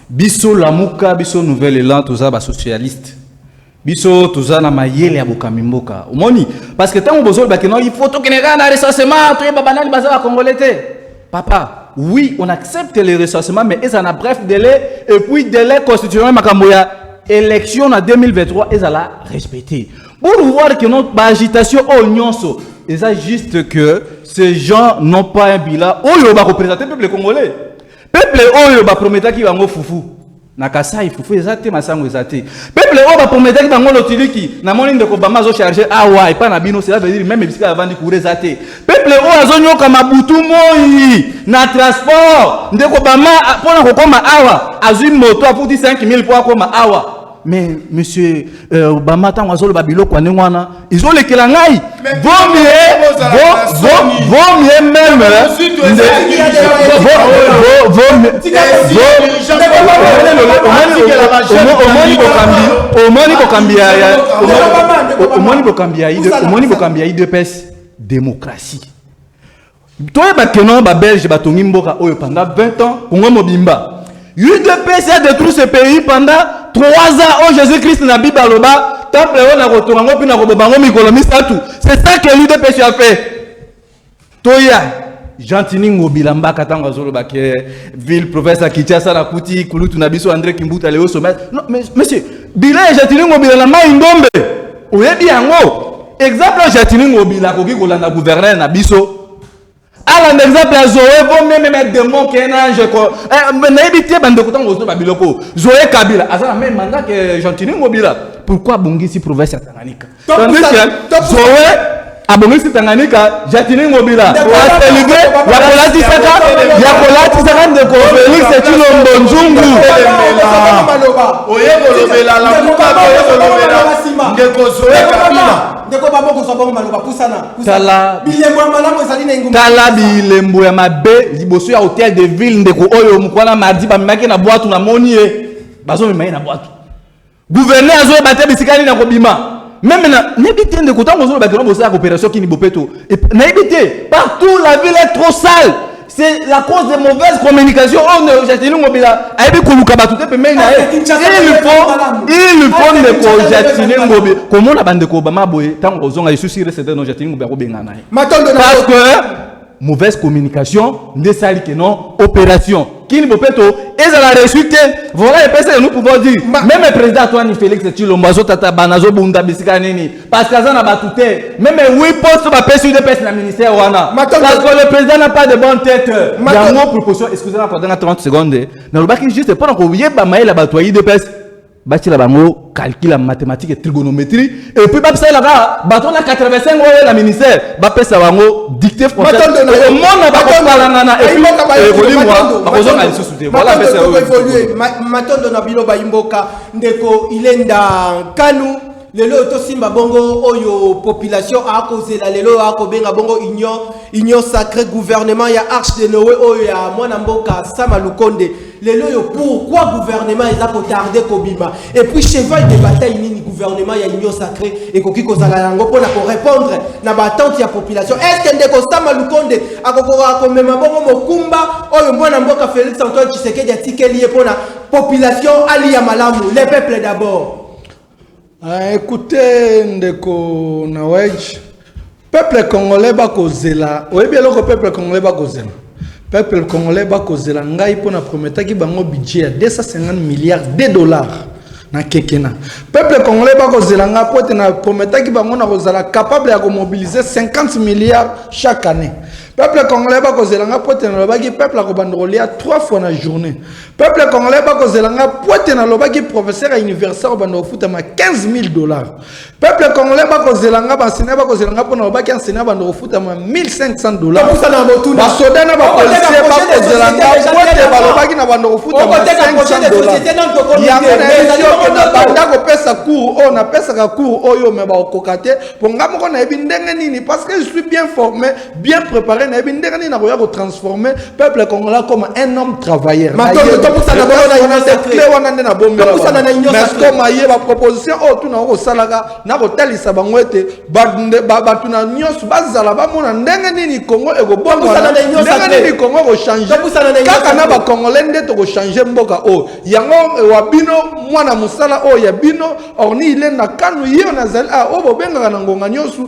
biso lamuka biso nouvel elan toza basocialiste biso toza na mayele ya bokambi mboka omoni parce que ntango bozolobake no il faut tokende kaka na recensement toyeba banani baza bakongole te papa oui, on accepte les recensements, mais ils en a bref délai, et puis délai constitutionnel, makambo ya élection en 2023, ils la respecter. Pour voir que notre agitation au nyonso eza juste que ces gens n'ont pas un bilan oyo ba représenter peuple congolais. Peuple oyo ba prometaki bango fufu. Na Kasai fufu eza te masango eza te. Peuple oyo ba prometaki bango lotiliki na moni ndeko Obama azo charger awa epa na bino cela veut dire même bisika avandi courant eza te. Peuple oyo azo nyoka mabutu moi na transport ndeko Obama pona kokoma awa azui moto afuti 5000 po akoma awa. mais monsieur euh, obama ntango azoloba biloko ya ndenge wana ezolekela ngai vomie meme omoni bokambi ya omoni bokambi ya idps démocratie Toyeba que non ba belge batongi mboka oyo pendant 20 ans congo mobimba udps a détruit ce pays pendant 3 ans oyo jésus christ na bible aloba temple oyo nakotonga ngo mpe nakoboma ngo mikolo misato c'est ça que l'udps a fait toya gentini ngobila mbaka ntango azoloba ke ville province ya kinshasa nakuti kulutu na biso andré kimbuta leo sommet non mais monsieur bilan ya gentini ngobila na mai ndombe oyebi yango exemple jatini ngobila akoki kolanda gouverneur na biso alanda exemple ya zoe vo meme me demon ke na ange ko eh, nayebi te bandeko ntango ozo ba biloko zoe kabila aza na meme manda ke jantini ngobila pourquoi abongisi province ya tanganyika zoe abongisi Tanganyika Jacqueline Ngobila atelibe ya kolatisaka ya kolatisaka ndeko Felix Tshilombo Nzungu oye kolobela lamuka oye kolobela ndeko Zoe Kabila ndeko babo kozwa bango maloba pusana tala bilembo ya malamu ezali na engumba tala bilembo ya mabe liboso ya hotel de ville ndeko oyo mokwana mardi bamemaki na bwatu namoni ye bazomema ye na bwatu Gouverneur azoyeba te bisika nini akobima. Meme na nayebi te ndeko ntango ozoloba kino bosalaka opération kini bopeto nayebi te partout la ville est trop sale c'est la cause de mauvaise communication oyo ndeko jacqueline ngobila ayebi koluka bato te pembeni na ye il faut il faut ndeko jacqueline ngobila komona bandeko obama boye ntango ozonga lisusu iresete no jacqueline ngobila akobengana ye parce que Mauvaise communication nde sali que non operation kini bopeto ezala reçu te voilà epesa nous pouvons dire même le président Antoine Félix Tshilombo azotata bana azobunda bisika nini parce que aza na bato te même oui poste bapesi udps na ministère wana parce que le président n'a pas de bonne tête yango proposition excusez-moi pendant 30 secondes nalobaki juste mpo na koyeba mayele ya bato ya udps batiela bango calcul ya mathématique et trigonométrie et puis babisalela kaka bato na 85 oyo na ministère bapesa bango dictée françaiseomona bakopalanana ekolimwa bakozonga lisusu te matondo na bino bayimboka ndeko ilenda nkanu lelo oyo tosimba bongo oyo population akozela lelo oyo akobenga bongo union union sacré gouvernement ya arche de noe oyo ya mwana mboka sama lukonde lelo oyo pourquoi gouvernement eza kotarde kobima et puis cheval de bataille nini gouvernement ya union sacré ekoki kozala yango mpona korépondre na baattente ya population estce que ndeko sama lukonde akokoka komema bongo mokumba oyo mwana mboka félix antoine tshisekedi atikeli ye mpona population aliya malamu le peuple d'abord Ah, écoutez ndeko Nawedge, peuple congolais bakozela, oyebi eloko peuple congolais bakozela peuple congolais bakozela ngai mpo na prometaki bango budget ya 250 milliards de dollars na kekena peuple congolais bakozela ngai mpo ete na prometaki bango na kozala capable ya komobilize 50 milliards chaque année peuple congolais bakozela ngai mpo ete nalobaki peuple akobanda kolia 3 fois na journée Peuple congolais bako zela nga pote na lobaki professeur ya université au bando ofutama 15000 dollars. Peuple congolais bako zela nga ba sina bako zela nga pona lobaki enseignant bando ofutama 1500 dollars. Bakusa na botu na soda na ba policier bako zela nga pote ba lobaki na bando ofutama 500 dollars. Ya mona ezali ko na banda ko pesa cours o na pesa ka cours oyo me ba kokate po nga moko na ebi ndenge nini parce que je suis bien formé bien préparé nayebi ndenge nini nakoya kotransforme peuple congolais comme un homme travailleur clé wana nde nabombelakoma ye baproposition oyo oh, tuna okosalaka na kotalisa bango ete bato na nyonso bazala bamona ndenge nini congo ekobongwanandenge nini congo ekochange kaka na bacongolais nde tokochange mboka oyo oh. yango eh, wa bino mwana mosala oyo oh, ya bino orni ilenda kanu ye nazali oyo ah, bobengaka na ngonga nyonso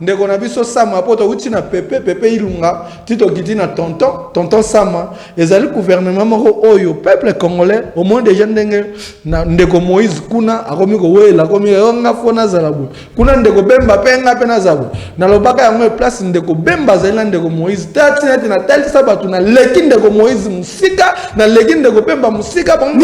Ndeko na biso Sama po towuti na Pepe Pepe Ilunga ti tokiti na tonton tonton Sama ezali gouvernement moko oyo peuple congolais omoni deja ndenge na ndeko Moïse kuna akomi kowela akomi yo nga fo nazala boye kuna ndeko Bemba pe nga pe nazala boye nalobaka yango place ndeko Bemba azali na ndeko Moïse tati neti natalisa bato naleki ndeko Moïse mosika naleki ndeko Bemba mosika bango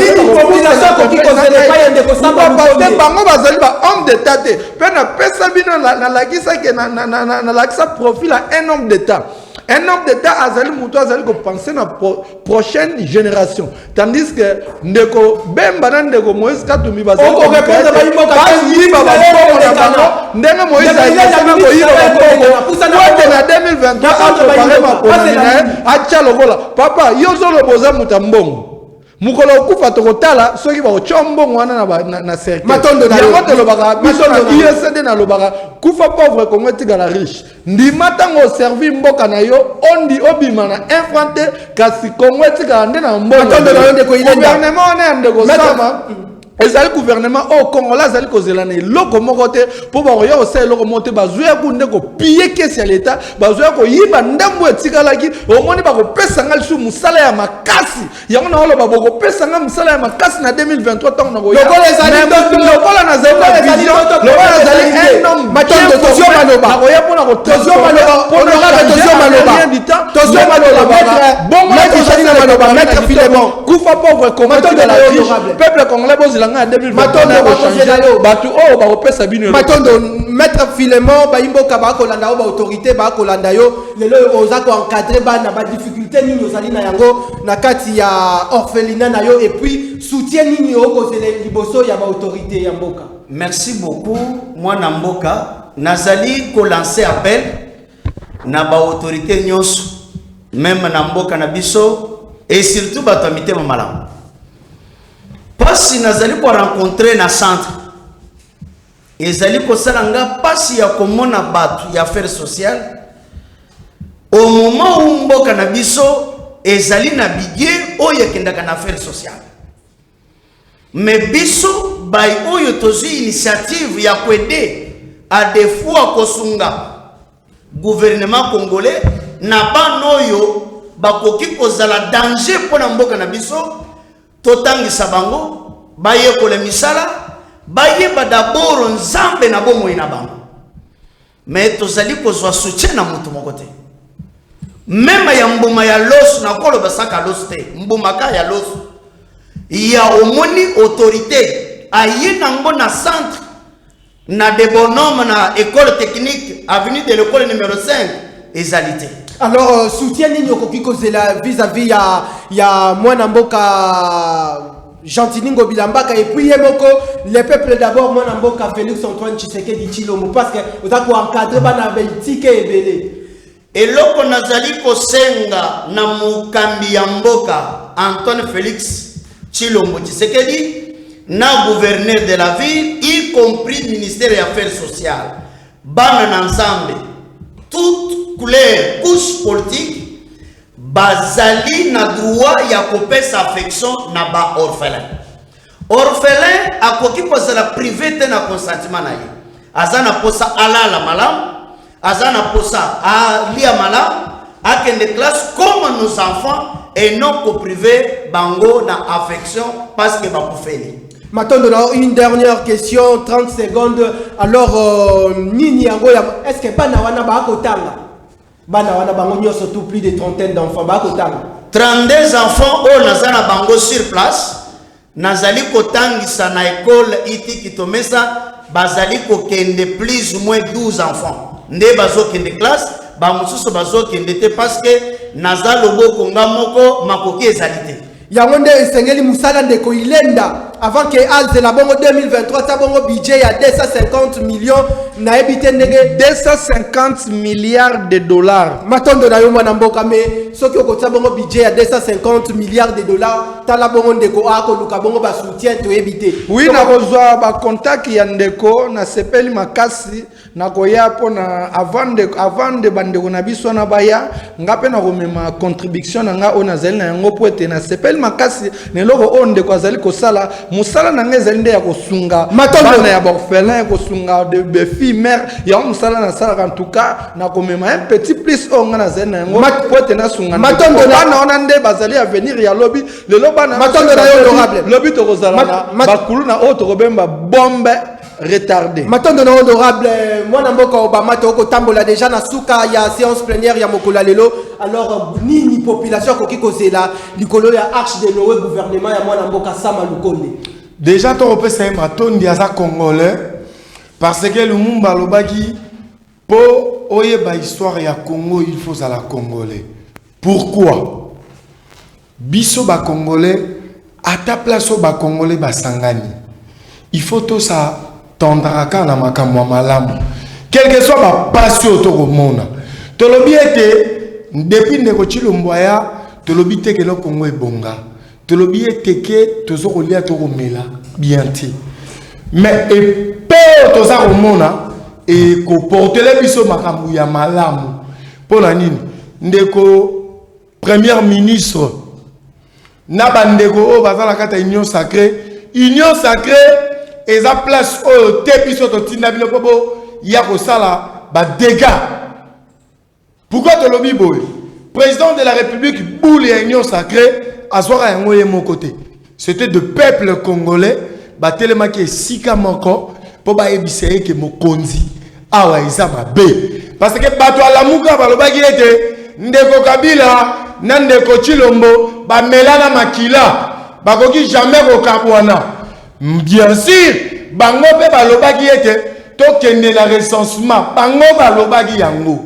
bazali ba homme d'etat te mpe napesa bino nalakisa ke nalakisa profil ya un homme d'état un homme d'état azali moto azali kopense na pro, prochaine génération tandis que ndeko bemba na ndeko moïse katumbi bazalibayiba bakongo na bango ndenge moïse ayisana koyiba bakongoete na 2023 akoparema konami na ye atya lokola papa yo ozoloba oza moto ya mbongo mokolo okufa tokotala soki bakotya mbongo wana na, ba, na, na cercueilyango tolobaka biso na usd nalobaka kufa pauvre kongo etikala riche ndima ntango oservi mboka na yo ondi obima na infra te kasi kongo etikala nde na mbongo gouvernement wana ya ndeko sama ezali gouvernement oyo oh, congolais azali kozela na eloko moko te mpo bakoya kosala eloko moko te bazoya ku nde kopiye kesi ya leta bazoya koyiba ndambo oyo etikalaki omoni bakopesa ngai lisusu mosala ya makasi yango naoloba bokopesa ngai mosala ya makasi na 2023 ntango nakoyalokola nazali nakoya mpona kotoziomaloba kufa pauvre koma tigala riche peuple congolais bozela ngai ya 2020 bato oyo bakopesa bino matondo maître filemon bayimboka bakolanda yo baautorité bakolanda yo lelo oyo oza koencadre bana badifficulté nini ozali na yango na kati ya orphelina na yo epuis soutien nini okozela liboso ya baautorité ya mboka merci beaucoup mwana mboka nazali kolancer appel na ba autorite nyonso meme na mboka na biso et surtout bato ya mitema malamu mpasi nazali korencontre na centre ezali kosala nga mpasi ya komona bato ya affaire sociale au moment où mboka na biso ezali na bidie oyo ekendaka na affaire sociale Mais biso bayi oyo tozui initiative ya ko aider à de fois kosunga gouvernement congolais na bana oyo bakoki kozala danger mpo na mboka na biso, totangisa bango, bayekola misala, bayeba d'abord Nzambe na bomoi na bango. Mais tozali kozwa soutien na moto moko te. Mema ya mbuma ya loso na kolo basaka loso te. Mbuma ka ya loso. Ya omoni autorité aye nango na centre na de bonhomme na école technique avenue de l'école numéro 5 ezali te. Alors euh, soutien nini okoki kozela vis-à-vis ya ya mwana mboka Gentini Ngobila Mbaka et puis ye moko le peuple d'abord mwana mboka Felix Antoine Tshisekedi Tshilombo parce que oza ko encadrer bana ba itike ebele eloko nazali kosenga na mokambi ya mboka Antoine Felix Tshilombo Tshisekedi na gouverneur de la ville y compris ministère ya affaires sociales bana na Nzambe toute couleur couche politique Bazali na droit ya kopesa affection na ba orphelins. Orphelin akoki kozala prive te na consentiment na ye. Aza na posa alala malamu, aza na posa alia malamu, akende classe comme nos enfants et non ko priver bango na affection parce que bakufeli. Matondo na une dernière question 30 secondes alors euh, nini yango ya est-ce que bana wana ba kotanga Bana wana bango nioso tout plus de trentaine d'enfants ba kotanga. 32 enfants oyo naza na bango sur place nazali kotangisa na ekole iti kitomesa bazali kokende plus ou moins 12 enfants nde bazokende classe bamosusu bazokende te parce que naza loboko nga moko makoki ezali te Yango nde esengeli musala ndeko ilenda avant que azela bongo 2023 ta bongo budget ya 250 millions nayebi te ndenge 250 milliards de dollars matondo na yo mwana mboka me soki okotia bongo budget ya 250 milliards de dollars tala bongo ndeko akoluka bongo basoutien toyebi te wi nakozwa bacontact ya ndeko nasepeli makasi nakoya mpo na avant de, avant de bandeko na biso wana baya nga mpe nakomema contribution na nga oyo nazali na yango mpo ete nasepeli makasi na eloko oyo ndeko azali kosala mosala na ngai ezali nde ya kosunga bana ya baorphelin kosunga befille mare yango mosala nasalaka en tout cas nakomema un petit plus oyo nga nazali na yango mpo ete nasunga bana wana nde bazali avenir ya lobi lelo bana lobi tokozala na bakuluna oyo tokobemba bombe retardé. Matondo na honorable mwana mboka Obama to ko tambola deja na suka ya séance plénière ya mokolo lelo. Alors nini population ko kiko zela likolo ya arche de Noé gouvernement ya mwana mboka Sama Lukonde. Déjà to opesa ye matondi aza congolais parce que Lumumba alobaki po oyeba histoire ya Congo il faut la congolais. Pourquoi? Biso ba congolais ata place oyo ba congolais ba sangani il faut to sa tendra kaka na makambo ya malamu quelque soit ba pasi oyo to ko mona to lobi ete depuis ndeko tshilombo aya to lobi te ke no congo ebonga to lobi ete ke to zo ko lia to ko mela bien te mais epe oyo to za ko mona e ko portele biso makambo ya malamu pona nini ndeko Première ministre na bandeko oyo baza na kati ya union sacrée union sacrée eza place oyo te biso totinda bino mpo boya kosala badega pourkoi tolobi boye président de la république boule ya union sacrée azwaka yango ye moko te C'etait de peuple congolais batelemaki esika moko po bayebisa ye ke mokonzi awa eza mabe parce que bato ya lamuka balobaki ete ndeko kabila na ndeko chilombo bamelana makila bakoki jamais kokabwana bien sur bango mpe balobaki ete tokende na recensement bango balobaki yango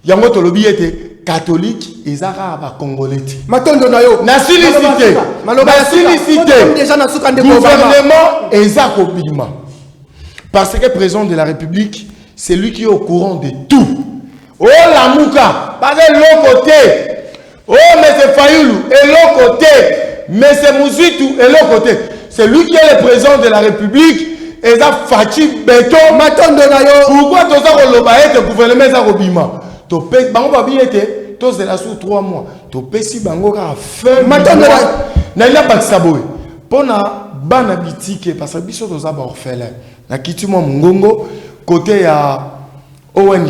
yango tolobi ete catholique eza kaka bacongolais te matondo na yo nasilisi te nasilisi te gouvernement eza kobima parce que président de la république c'est lui qui est au courant de tout olamuka baza eloko te Oh monsieur Fayulu eloko te monsieur Muzitu eloko te c'est lui qui est le président de la République eza Fatshi beton matondo na yo pourquoi toza koloba ete gouvernement eza kobima tope bango babi ete tozela sur 3 mois topesi bango kaka fin matondo na ila bakisa boye mpo na bana bitike parce que biso toza baorphelin na kiti mwa mongongo kote ya ong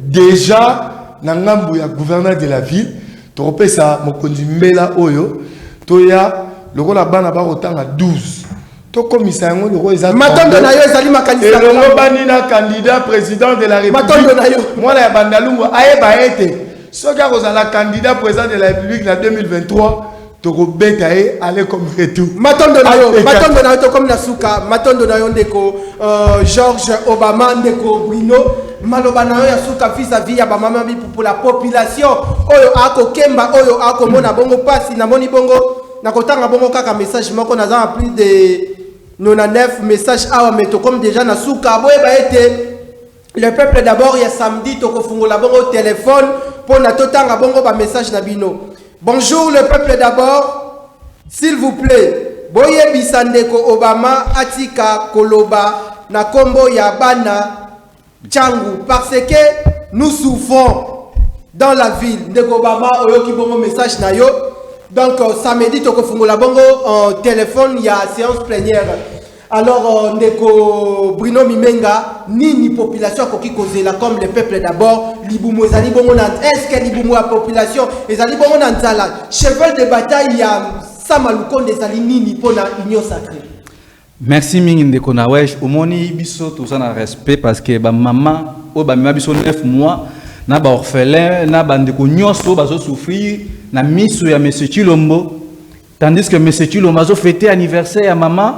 dejà na ngambu ya gouverneur de la ville tokopesa mokonzi mbela oyo toya lokola bana bakotanga 12 tokomisa yango loko eza matondo na yo ezali makanisi elongobani na candidat président de la république na yo mwana ya bandalungu ayeba ete soki akozala candidat président de la république na 2023 tokobeta ye ale comme retour matondo na yo matondo na yo tokomi na suka matondo na yo ndeko euh, george obama ndeko bruno maloba na yo ya suka vis à vis ya bamama bipupula population oyo akokemba oyo akomona bongo mpasi namoni bongo nakotanga bongo kaka message moko naza na plus de 99 message awa me tokomi deja na suka boyeba ete Le peuple d'abord ya samedi tokofungola bongo telephone pona totanga bongo ba message na bino. Bonjour le peuple d'abord. S'il vous plaît, boyebisa ndeko Obama atika koloba na kombo ya bana Changu parce que nous souffrons dans la ville. Ndeko Obama oyoki bongo message na yo. Donc euh, samedi tokofungola bongo en euh, téléphone ya séance plénière. Alors, euh, ndeko Bruno Mimenga, nini population akoki kozela comme le peuple d'abord libumu ezali bongo na est-ce que libumu ya population ezali bongo na nzala cheval de bataille ya sama lukonde ezali nini mpo na union sacrée merci mingi ndeko na wesh omoni biso toza na respect parce que bamama oyo bamema biso 9 mois na baorphelin na bandeko nyonso bazosouffrir na miso ya monsieur chilombo Tandis que monsieur Chilomba azo fêter anniversaire ya maman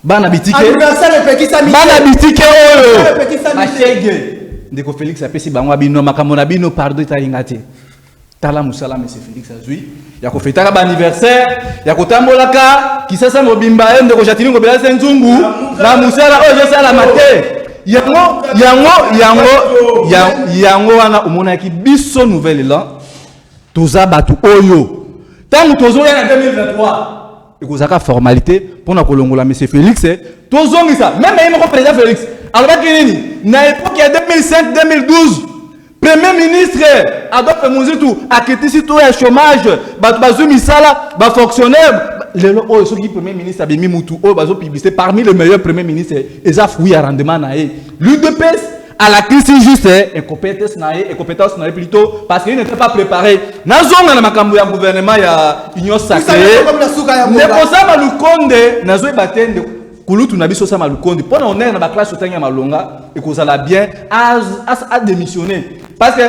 bana bitike anniversaire epekisa mike bana bitike oyo epekisa mike ndeko Felix apesi bango abino makambo na bino pardon etali nga te tala musala monsieur Felix azui ya kofetaka ba anniversaire ya kotambolaka kisasa mobimba ye ndeko Jatini Ngobela se nzungu na musala oyo ezosalama te yango yango yango yango wana omonaki biso nouvelle elan Toza batu oyo tangu tozo ya na 2023 ekozaka formalite pona kolongola monsieur Felix eh, tozongisa meme ye moko president Felix alobaki nini na epoque ya 2005 2012 premier ministre adolphe muzitu akitisi to ya chômage bato bazwi misala bafonctionnaire lelo oyo soki premier ministre abimi mutu oyo bazopublicité parmi le meilleur premier ministre eza fruit ya rendement na ye l'udps à la crise juste et eh, compétence nae et compétence nae plutôt parce qu'il n'était pas préparé nazonga na makambo ya gouvernement ya union sacrée ne posa malukonde nazoy batende kulutu na biso sa malukonde pona on est na ba classe otangi ya malonga et kozala bien as as a démissionner parce que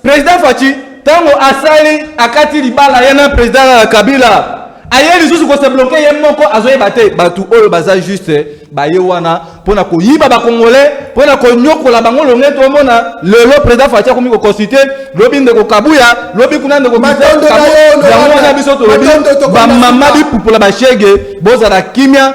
President Fatshi tango asali akati libala ye na President Kabila aye lisusu ko se bloquer ye moko azoyeba te batu oyo baza juste baye wana pona koyiba ba congolais pona konyokola bango longe tomona lelo President Fatshi akomi ko consulter lobi ndeko Kabuya lobi kuna ndeko Matondo na yo yango wana biso tolobi ba mama bipupola ba shege bozala kimia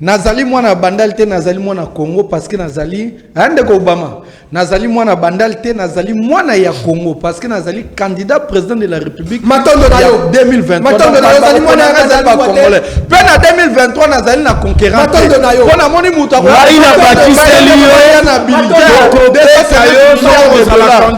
Nazali mwana ya bandal te nazali mwana Congo parce que nazali hein, ndeko Obama nazali mwana bandal te nazali mwana ya Congo parce que nazali candidat président de la République matondo na yo 2023 matondo na yo nazali mwana ya nazali ba congolais pe na 2023 nazali na conquérant matondo na yo pona moni mutu akoya na bakiseli yo na bilité de sa yo